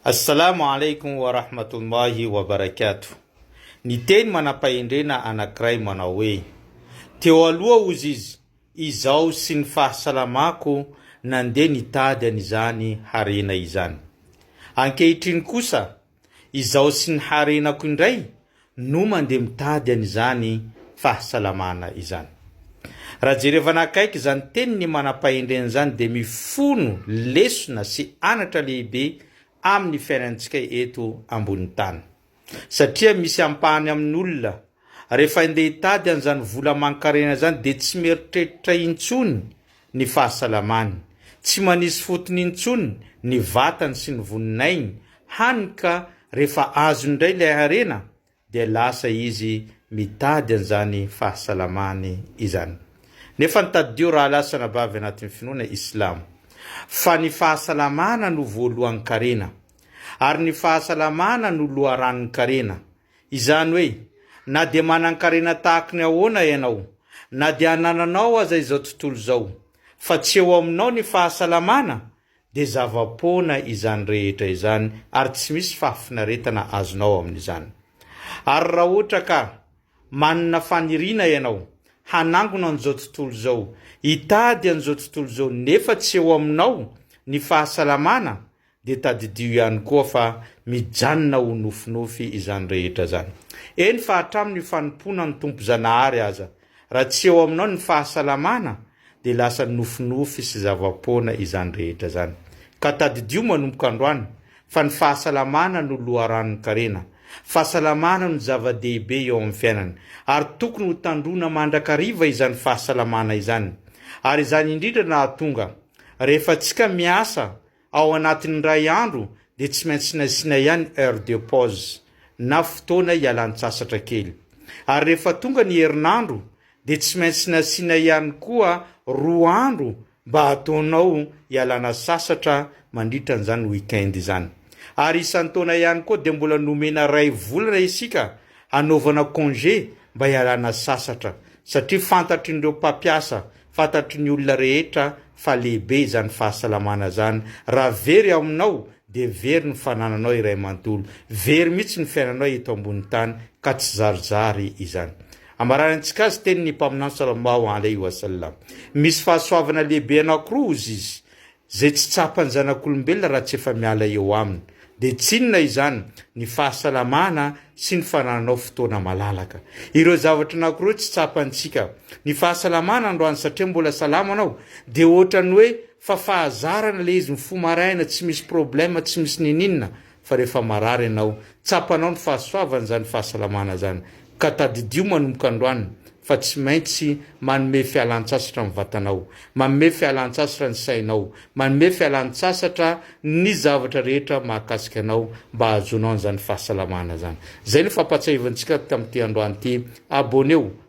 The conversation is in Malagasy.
Assalamu alaikum wa rahmatullahi wa barakatuh Ny teny manam-pahendrena anankiray manao hoe, Teo aloha hozy izy, izaho sy ny fahasalamako nandeha nitady an'izany harena izany. Ankehitriny kosa, izaho sy ny harenako indray no mandeha mitady an'izany fahasalamana izany. Raha jerevana akaiky izany teniny manam-pahendrena izany dia mifono lesona sy anatra lehibe amin'ny fiainantsika eto ambonin'ny tany. Satria misy ampahany amin'olona, rehefa andeha hitady an'izany vola aman-karena izany dia tsy mieritreritra intsony ny fahasalamany. Tsy manisy fotony intsony ny vatany sy ny voninainy, hany ka rehefa azony indray ilay harena dia lasa izy mitady an'izany fahasalamany izany. Nefany tadidio rahalasanabavy anatin'ny finoana islamo, fa ny fahasalamana no voalohan-karena, ary ny fahasalamana no loharanonkarena, Izany hoe, na dia manan-karena tahaka ny ahoana ianao, na dia anananao aza izao tontolo izao, fa tsy eo aminao ny fahasalamana, dia zava-poana izany rehetra izany ary tsy misy fahafinaretana azonao amin'izany. Ary raha ohatra ka manana faniriana ianao hanangona an'izao tontolo izao, hitady an'izao tontolo izao nefa tsy eo aminao ny fahasalamana, dia tadidio ihany koa fa mijanona ho nofinofy izany rehetra izany. Eny fa hatramin'ny fanompoana ny Tompo Zanahary aza, raha tsy eo aminao ny fahasalamana, dia lasa nofinofy sy zava-poana izany rehetra izany. Ka tadidio manomboka androany fa ny fahasalamana no loharanon-karena, fahasalamana no zava-dehibe eo amin'ny fiainana, ary tokony ho tandroina mandrakariva izany fahasalamana izany. Ary izany indrindra no hahatonga, rehefa tsika miasa, Ao anatin'ny iray andro dia tsy maintsy nasiana ihany heure de pause na fotoana hialan-tsasatra kely. Ary rehefa tonga ny herinandro dia tsy maintsy nasiana ihany koa roa andro mba hataonao hialana sasatra mandritra an'izany week-end izany. Ary isan-taona ihany koa dia mbola nomena iray volana isika hanaovana congé mba hialana sasatra satria fantatr'ireo mpampiasa Fantatry ny olona rehetra fa lehibe izany fahasalamana izany. Raha very ao aminao dia very ny fanananao iray manontolo. Very mihitsy ny fiainanao eto ambony tany ka tsy zarizary izany. Amaranintsika azy tenin'ny Mpaminany Sallallahu Alaihi Wasallam. Misy fahasoavana lehibe anankiroa hozy izy, Izay tsy tsapan'ny zanak'olombelona raha tsy efa miala eo aminy. Dia tsy inona izany, ny fahasalamana sy ny fanananao fotoana malalaka. Ireo zavatra anankiroa tsy tsapantsika. Ny fahasalamana androany satria mbola salama anao, dia ohatran'ny hoe fa fahazarana ilay izy mifoha maraina tsy misy problème tsy misy nininona, fa rehefa marary ianao, tsapanao ny fahasoavana izany fahasalamana izany, ka tadidio manomboka androany fa tsy maintsy manome fialan-tsasatra ny vatanao, manome fialan-tsasatra ny sainao, manome fialan-tsasatra ny zavatra rehetra mahakasika anao mba hahazoanao an'izany fahasalamana izany. Izay no fampahatsiahivantsika tamin'ity androany ity, abonnez-vous,